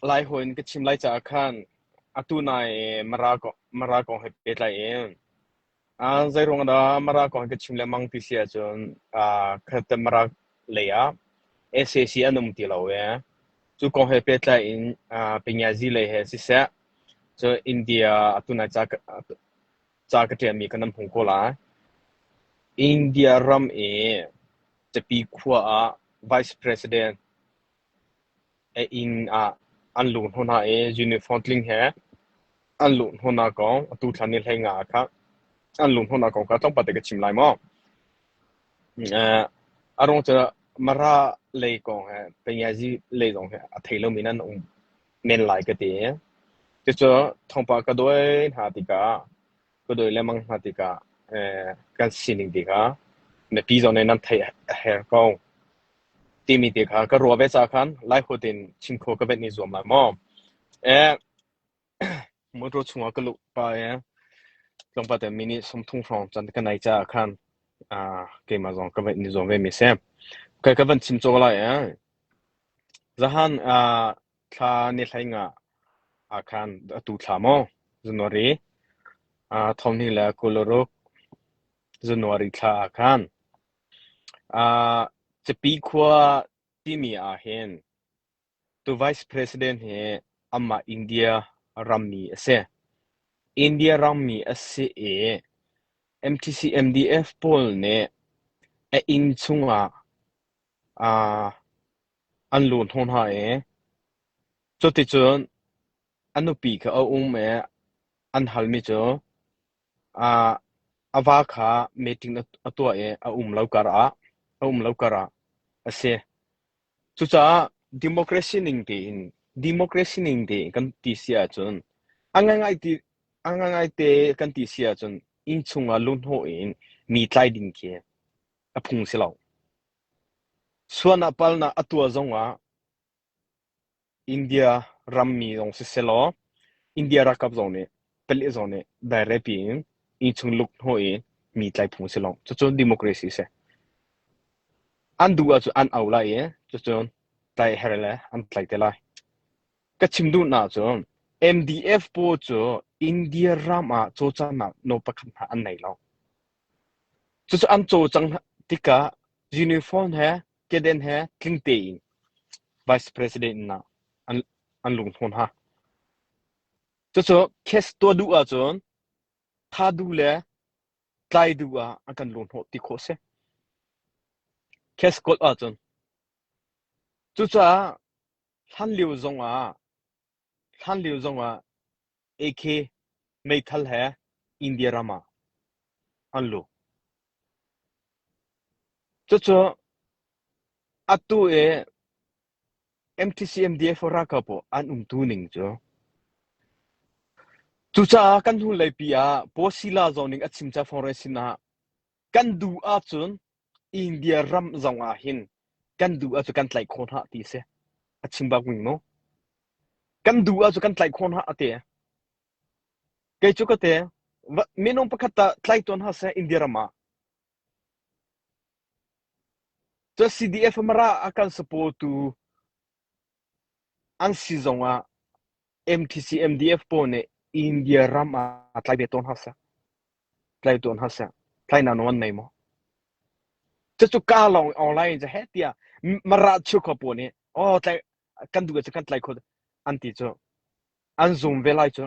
Lai hawi in ka chim lai caah khan atu nai Mara kong Mara kong he pehtlai in zei ruang dah Mara kong ka chim lengmang ti si ahcun khatte Mara lei ah SAC an um ti lo e. Cu kong he pehtlai in Penyazi lei he siseh cu India atu nai ca ca ka ṭialmi kan an hung ko lai. India ram i Capi khua ah Vice President A inn ah an luh hnu hna i uniform tling he an luh hnu hna kong atu thlan i hleinga ah kha an luh hnu hna kong kha tlawmpal te ka chim lai maw? A ruang cu Mara lei kong he Pengiazi lei zong he a thei lomi in an um men lai ka ti i cucu thawngpang ka dawi hna tikah ka dawi lengmang hna tikah kan sining te kha mipi zawn in nan theih a her ko timi te kha ka ruah ve ca khan lai ho tin chim kho ka vet ni zuam lai maw motor chungah ka luh pa e tlangpa te minute sumthung hrawng chan ka nai cha khan keima zong ka vet ni zuam ve mi se kai ka van chim cho lai e zahan Thla ne hlei nga ah khan atu thla maw January, uh, thawmhnih le kuluruk January thla ah khan uh, Capi khua timi ah hin tu Vice President hi amah India rammi a si. India rammi a si i MTC MDF pawl nih a inn chungah uh, An lu hnawh hna i cuticun a nupi kha a um i an halmi cu aa a va kha meeting a tuah i a um lo karah a um lo karah a si. Cucaah democracy ning tein democracy ning te kan ti si ahcun a ngaingai ti a ngaingaite kan ti si ahcun innchung ah luhnawh in mi tlai ding khi a phung si lo. Suan ah palnak a tuah zongah India rammi zong sisehlaw India ralkap zong nih palik zong nih dairehpi in innchung lukhnaw i mi tlaihphung a si lo. Cucu democracy a si. An duh ahcun an au lai i cucun tlaih her le an tlaih te lai. Ka chim duhnak cun MDF pawl cu India ram ah cawlcanghnak no pakhat hna an nei lo. Cucu an caw cang tikah uniform he kedan he tling tein Vice President-nak an lung hlawn hna. Cucu case tuah duh ahcun tha duh le tlai duh ah an kan lunhnawh ti khawh a si. Case kawl ahcun. Cucaah hlan lio zong ah Hlanlio zongah AK meithal he India ram ah an lut. Cucu atu i MTCMDF ralkap ah an umtu ning cu cucaah kan hnulei pi ah Pawsila zong nih a chim ca fong rel sinah Kan duh ahcun India ram zong ah hin kan duh ahcun kan tlaih khawh hna ti si. A chim bak ning mu. Kan duh ahcun kan tlaih khawh hna a ti. Kei cu ka te minung pakhat ta tlai tuan ha se India ram ah. Cu CDF mara a kan supportu An si zongah MTC MDF pawl nih India ram ah tlai ve tawn hna seh, tlai tawn hna seh, tlainak nawn nei maw? Cucu kaa lawng in online in cu heh tiah Mara cheu kho pawl nih aw tlai kan duh cu kan tlai kho an ti cu. An zum ve lai cu.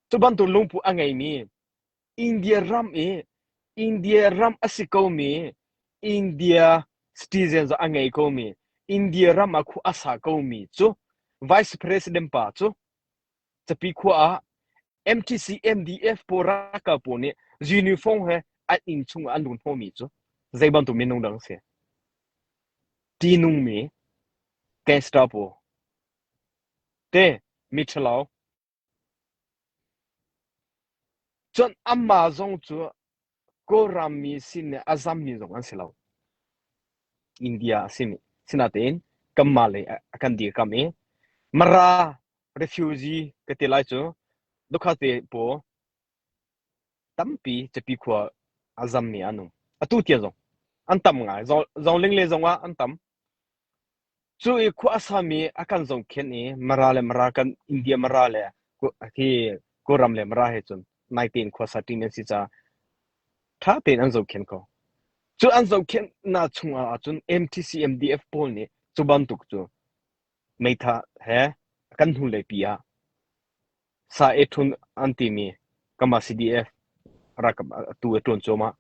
Cu bantuk lungput a ngeimi India ram i India ram a si komi India citizen zong a ngei komi India ram ah khua a sa komi cu Vice President pa cu Capi khua ah MTC MDF pawl ralkal pawl nih uniform he an inn chung ah an run hnawhmi cu zei bantuk minung dang a si? Tihnungmi, testa pawl, te miṭhalo, Cun amah zong cu Kawlrammi sin le a zammi zong an si lo. India a simi. Sinain kanmah lei ah a kan dirkamh i Mara refugee ka ti lai cu. Dukha te paw. Tampi Capi khua a zammi an um. Atu tiang zong an tam ngai. Zoling le zong ah an tam. Cu i khua a sami a kan zong khen i Mara le Mara kan India Mara le hi Kawlram le Mara he cun nai tein khua sa ṭin an si caah ṭha tein an zoh khen ko. Cu an zoh khen na chungah ahcun MTCMDF pawl nih cu bantuk cu meitha he kan hnulei pi ah Sa ei ṭhun an timi Kamah CDF ralkap atu a ṭuan cuahmah.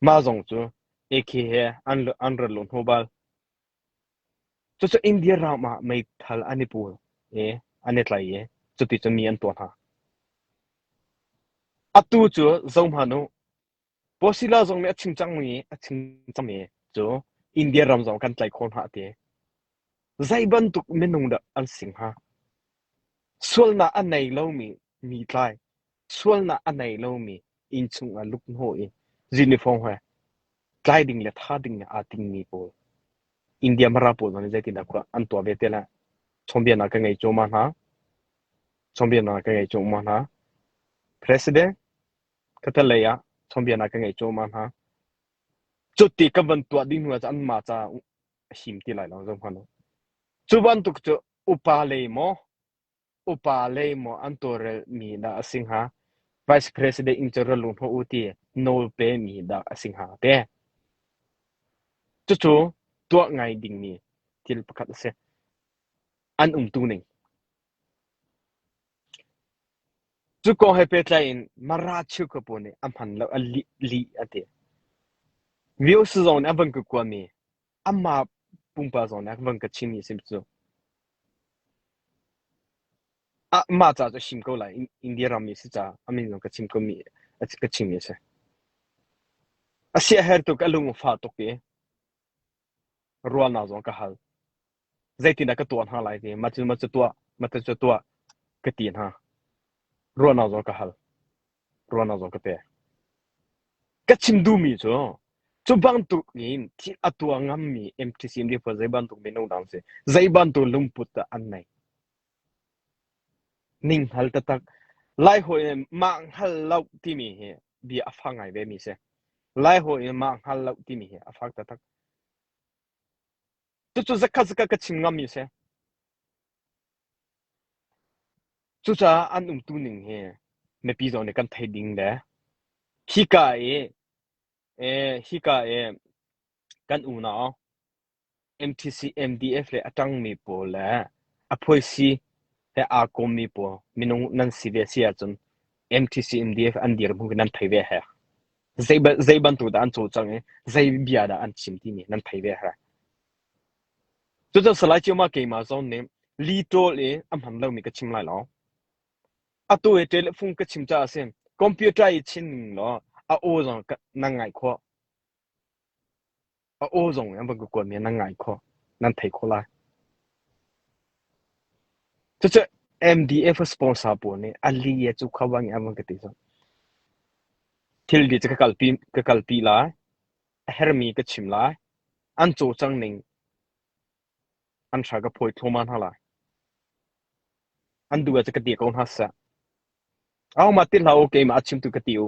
Mah zong cu AK he an rat lo hnawh bal. Cucu India ram ah meithal an i pul i an i tlai i cuti cun mi an tuah hna. Atu cu zohhmanh u, Posilla zong nih a chim cangmi a chim cangmi cu India ram zong kan tlaih khawh hna a ti. Zei bantuk minung dah an si hnga? Sualnak a nei lomi mi tlai, sualnak a nei lomi innchung ah lukhnawh i uniform he tlai ding le tha ding le aa dingmi pawl India mara pawl zong nih zeitindah khua an tuah ve te le chawnbianak ka ngei cuahmah hna. Chawnbianak ka ngei cuahmah hna. President Thatlei ah chawnbianak ka ngei cuahmah hna. Cuti ka van tuah ding hnu ah cun anmah ca a him ti lai lo zong hmanh. Cu bantuk cu upa lei maw upa lei maw an tawlrel mi dah a si hnga vice president in cu ralung hno u ti nawl pe mi dah a si hnga te cucu tuah ngai ding mi thil pakhat a si an um tu ning Cu kong he pehtlai in Mara cheukapu nih a hman lo a lih, lih a ti. Views zong nih an van ka kuat mi amah pumpak zong nih an van ka chim i a si cu. Ah, mah ca cu a him ko lai. In- India rammi a si caah a min zong ka chim ko mi a ka chim mi a si. A siaherh tuk a lung a fah tuk i ruahnak zong ka hal. Zeitindah ka tuah hna lai ti, ma cu ma cu tuah, ma tu cu tuah, ka ti hna. Ruahnak zong ka hal. Ruahnak zong ka pek. Ka chim duhmi cu, cu bantuk in thil a tuah ngammi MTC MD pawl zei bantuk minung dah an si, zei bantuk lungput dah an nei. Ninghngal taktak, Lai hawi nih mah hngal loh timi hi bia a fak ngai vemi a si. Lai hawi nih mah hngal loh timi hi a fak taktak. Cucu zakhat zakhat ka chim ngammi a si. Cucaah an umtu ning hi mipi zong nih kan thei ding le hika i, eh, hika i kan unau NTC, NDF le a ṭangmi pawl le a phuaisi he aa kawmmi pawl minung nan si ve a si ahcun NTC, NDF an dirhmun khi nan thei ve heh. Zei bantuk dah an cawlcang i zei bia dah an chim timi nan thei ve heh. Cucu Salai Cioma keimah zong nih li ṭawl i a hman lomi ka chim lai lo. Atu i telephone ka chim caah a si. Computer i chin ning law a aw zong nan ngaih khawh. A aw zong in van ka kuat mi nan ngai kho, nan thei kho lai. Cucu MDF sponsor pawl nih a li a cu kha wang in an van ka ti cang. Thil vi cu ka kalpi ka kalpi lai. A hermi ka chim lai. An caw cang ning an thra ka phawi thluman hna lai. An duh a cu ka ti ko hna sah. Au ma ti hla okay ma a chim tu ka ti u.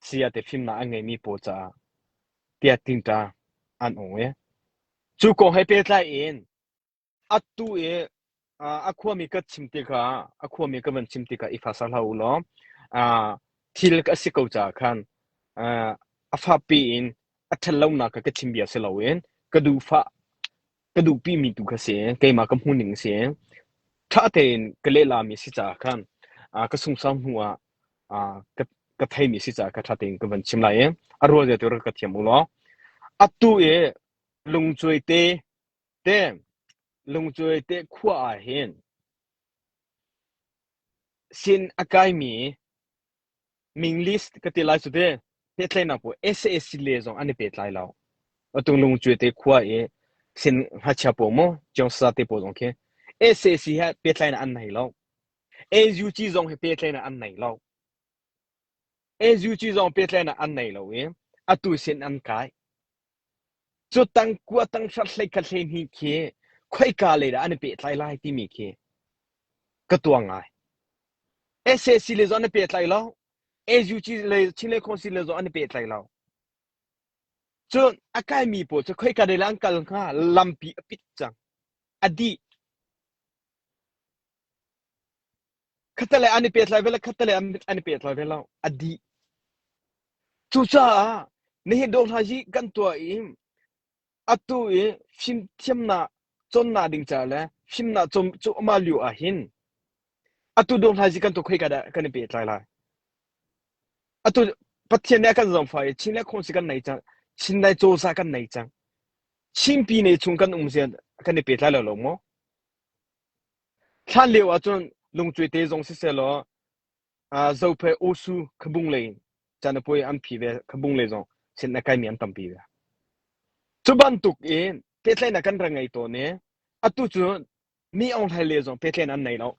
Saya te fimnak an ngeihmi pawl caah tiah tingṭa an ung i cu kong he pehtlai in atu i a khuami ka chim tikah a khuami ka van chim tikah i fasa hlah u law thil ka si ko caah khan a fapi in a ṭhat lonak ka chim bia si loin ka duhfah ka duhpi mi tu kha si keimah ka hmuhning a si ṭha tein ka lehlam i si caah khan ah ka sungsang hnu ah ah ka ka theimi si caah ka ṭha tein ka van chim lai i a rual zia tu rak ka thiam u law atu i lungcuai te te lungcuai te khua ah hin sin a kaimi Ming list ka ti lai cu te pehtlaihnak pawl sac le zong an i pehtlai lo. Atu lungcuai te khua i sin ngakchia pawl maw ciangsasa te pawl zong khi sac he pehtlaihnak an nei lo. NUG zong hi pehtlaihnak an nei lo. NUG zong pehtlaihnak an nei lo i atu sin an kai. Cu tangkua tanghrar hlei khat hleihnih khi khoika lei dah an i pehtlai lai timi khi ka tuang ngai. SAC lei zawn an i pehtlai lo, AUG lei Chinlei Council lei zawn an i pehtlai lo. Cun a kaimi pawl cu khoika lei lah an kal hnga lampi a pit cang, a dih. khatte an i pet lai ve lo, khatte an, an i pet lai ve lo, a dih. Cucaah nihin dawh hna hi kan tuah i atu i fimthiamnak conna ding ca le fimnak cum cuma lio ah hin atu dawh hna hi kan tu khoi ka da kan i pet lai lai. Atu Pathian nih kan zong fa i Chin le khong si kan nei cang, Chin le cawsa kan nei cang. Chinpi nei chung kan um zian kan i pet lai lo lo maw? Hlan lio ahcun lungcuai te zong sisehlaw Zophei Awsu khabung lei caan a poi an phi ve khabung lei zong sin a kaimi an tampi ve. Cu bantuk i pehtlaihnak kan rak ngei tawn i atu cu Mi Aung Hlain le zong pehtlaihnak an nei lo.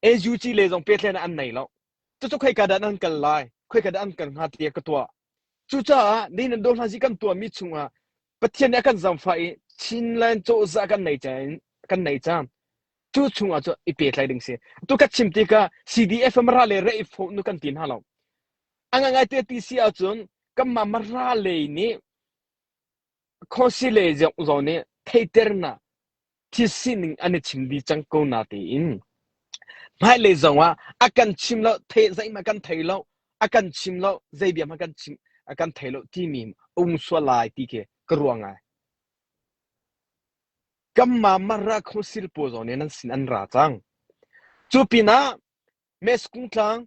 AUG le zong pehtlaihnak an nei lo. Cucu khoika dah an kal lai, khoika dah an kal hnga tiah ka tuah. Cucaah nihin an dohlanzi kan tuahmi chungah Pathian nih a kan zamfa i Chinland cozah kan nei cang kan nei cang cu chungah cu i petlai ding si tu ka chim tikah CDF mara le rei fawh nu kan ti hna lo anga ngai te ti si ahcun kanmah mara lei nih khosi lei zong nih theiternak thil sining an i chim dih cang ko na tiin hmailei zongah a kan chim lo the zeihmah kan thei lo a kan chim lo zeibiam a kan chim a kan thei lo timi um sual lai ti ke ka ruang ai kamma marra khosil po zone nan sin an ra cang cu pinah mes kung tlang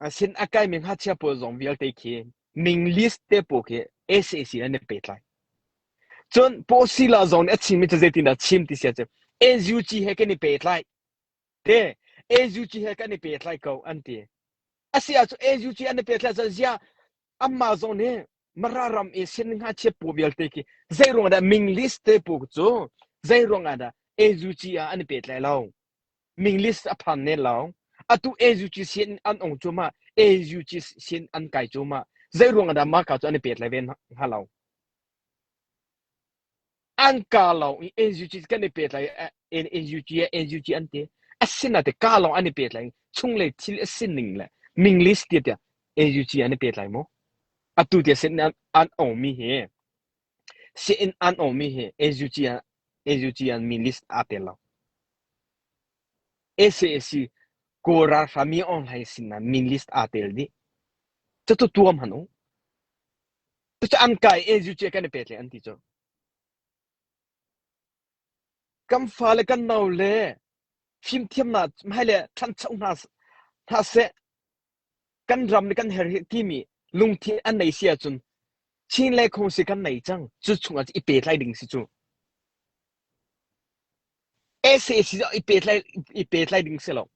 Asin a kaimi ngakchia pawl zong vialte khi Ming list te pawl khi SAC an i pehtlai. Cun Posila zong nih a chimmi cu zeitindah chim ti sia cu SUG he kan i pehtlai te SUG he kan i pehtlai ko an ti a si ahcun SUG an i pehtlai cun ziah anmah zong nih mara ram i sin ngakchia pawl vialte khi zei ruangah dah Ming list te pawl cu zei ruangah dah SUG ah an i pehtlai lo Minglist a phan men lo. Atu AUGC in an ong cuahmah. AUGC sin an kai cuahmah. Zeiruang ah dah mahka cu an i pet lai ve hnga lo? An ka lo i AUGC kan i pet lai AUG AUG an ti. Asinain te ka lawng an i pet lai. Chunglei thil a sining le minglist tiah AUG an i pet lai mu. Atu tiah sin an ongmi hi Siinn an awngmi hi AZUCIAN mi list aa tel lo. Sac Kawl ralhrang mi aung hlaing sinah min list aa tel dih. Cucu tuam han u. Cucu an kai AZUC kan i pet le an ti cu. Kan fa le kan nau le fimthiamnak hmai le ṭhancho hna hna seh. Kan ram le kan her hi timi lungthin an nei si ahcun Chin le Khuangsi kan nei cang. Cu chungah i pehtlai ding si cu. SA si i pehtlai i pehtlai ding si lo.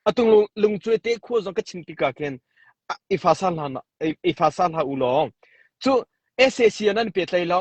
Atung lung lungcue te khua zong ka chin tika ken i fa sa hla i fa sa hla u law. Cu SA si nan pehtlai lo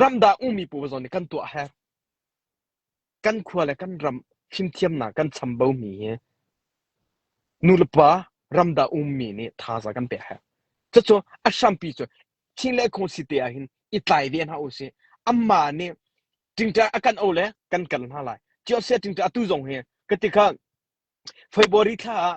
Ramdang ummi pawl zong nih kan tuah a herh. Kan khua le kan ram fimthiamnak kan chambomi hi nulepa ramdang ummi nih thaza kan pek a herh. Cucu a hrampi cu chin le khuasi te ah hin i tlai ve hna usih. Anmah nih ṭingṭah a kan auh le kan kal hna lai. Cuasia ṭingṭah atu zong hi ka ti kha February thla ah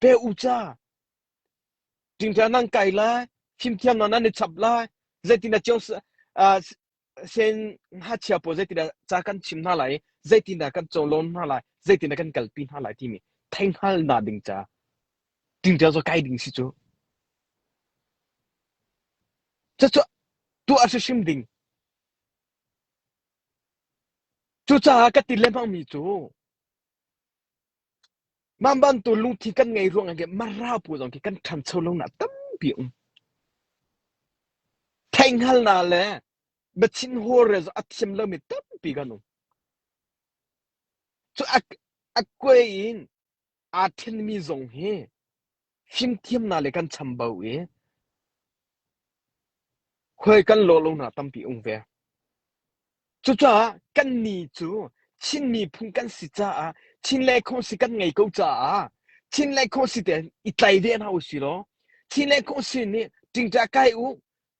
Peh u ca! Ṭingṭha nan kai lai, fimthiam hna nan i chap lai, zeitindah cio sen hngachia pawl zeitindah ca kan chim hna lai i zeitindah kan cawlawng hna lai, zeitindah kan kalpi hna lai timi theihngal hna ding ca ṭingṭha cu kai ding si cu. Cucu tuah hrimhrim ding. Cucaah ka ti lengmangmi cu Mah bantuk lungthin kan ngeih ruangah khin Mara pawl zong khi kan ṭhancho lonak tampi a um. Theihhngalhnak le biachim hawrel zong a thiam lomi tampi kan um. Cu a, a kuai in aa ṭhenmi zong hi Fimthiamnak le kan chambau i khuai kan law lonak tampi a um ve. Cucaah kannih cu Chin miphun kan si caah Chin le khuasi kan ngei ko caah Chin le khuasi te i tlai ve hna u silaw Chin le khuasi nih ṭingṭa kai u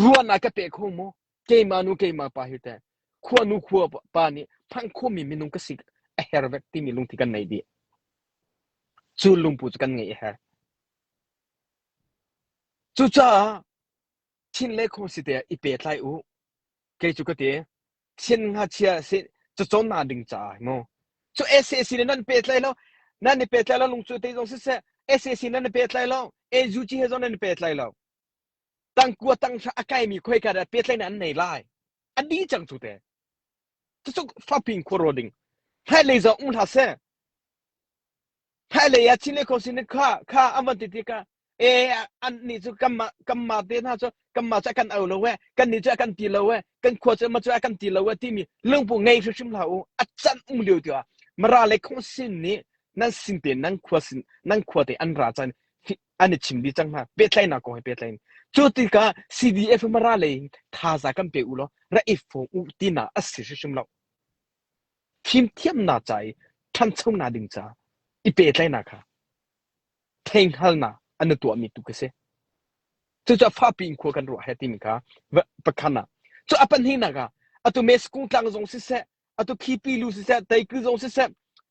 ruahnak ka pe kho maw keimah nu keimah pa hi teh khuanu khua pa nih phanh khomi minung ka si a her vek timi lungthi kan nei dih cu lungpu cu kan ngei a her cucaah thin le khong si te i pe tlai u kei cu ka ti thin nga chia si cu chon na ding ca ai mo cu SAC le nan pe tlai lo nan ni pe tlai lo lung cu te zong si se SAC nan pe tlai lo AUG he zong nan pe tlai lo Tlangkua tanghra a kaimi khoika dah pehtlaihnak an nei lai? A dih cang cu te. Cucuk Fakping khuaro ding. Hmailei zong um hlah seh. Hmailei ah Chin kho sin kha kha an van ti ti ka e an ni cu kanma kanma te hna cu kanma cu kan au lo e kan ni cu kan ti lo e kan khua cu ma cu kan ti lo e timi lungpung ngei hrimhrim hlah u a can um lio ti mara le khong sin nih nan sin te nan khua sin nan khua te an ra can an i chim dih cang hna pehtlaihnak kong he pehtlain cu tikah CDF mara lei thaza kan pe u law ra i fung u tina asi hrim lo thim thiamna ca i ṭhanchonak ding ca i pehtlaihnak kha theinghal an tuah mi tu ka si cucu fapi in khua kan ruah he timi kha pakhan ah cu a pahnih nak ah atu me skung tlang zong siseh atu khipi lu siseh teikri zong siseh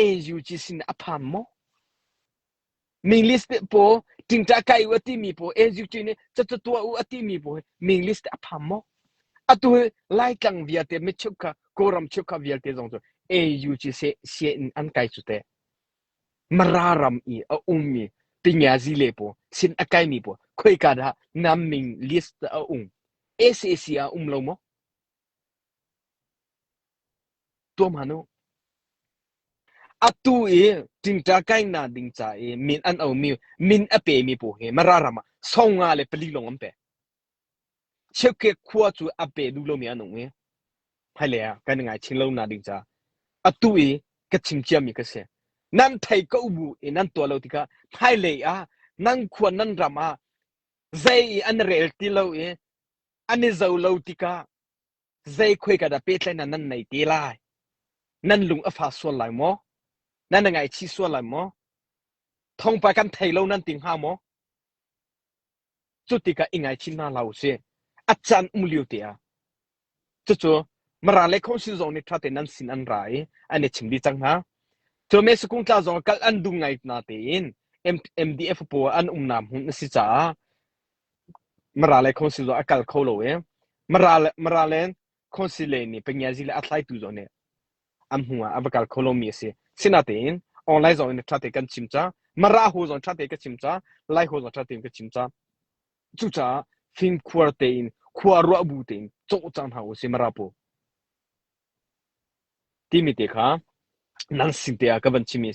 AUG sin a pham maw? Minglist te po tingta kai u timi po AUG nih cacu tua u timi po Minglist te a pham maw? Atu lai tlang vialte mit chuk kha kawram chuk kha vialte zong cu AUG se se in an kai cu te mararam i a ummi pinyazi le po sin a kai mi po khoi ka da nam ming list a um ACC a um lo maw? Atu i ṭingṭa kainnak ding ca i min an omi, min a pemi pawl hi Mara ram ah song nga le pali lawng an pe. Chiakke khua cu a pe duh lomi an um i hmailei ah kan i ngaihchih lonak ding caah atu i ka chim ciami ka si. Nan thei ka u bu i nan tuah lo tikah hmailei ah nan khua nan ram ah zei i an rel ti lo i an i zo lo tikah zeikhuai ka dah pehtlaihnak nan nei te lai? Nan lung a fa sual lai maw? Nan na ngaichih sual lai maw? Thongpai kan thei lo nan ti hnga maw? Cu tikah i ngaichim hna hlah u si. A can um lio te ah. Cucu mara le khong sin zong nih ṭhate nan sin an ra i an i chim dih cang hna. Cu mesukung tla zong kal an dum ngai na tein MDF paw an um nam hun na si caah Marale Council zong a kal kho lo i Maralen Councillor nih Pangiazi le a tlaitu zong nih an hnu ah a va kal kho lomi a si. Sinatein online zong in ṭha tein kan chim ca, Mara ho zong ṭha tein ka chim ca, Lai ho zong ṭha tein ka chim ca. Cucaah fimkhuar tein, khua ruah bu tein cawhcang hna u si Mara pu. Timi te kha nang sin te ah ka van chimmi a si.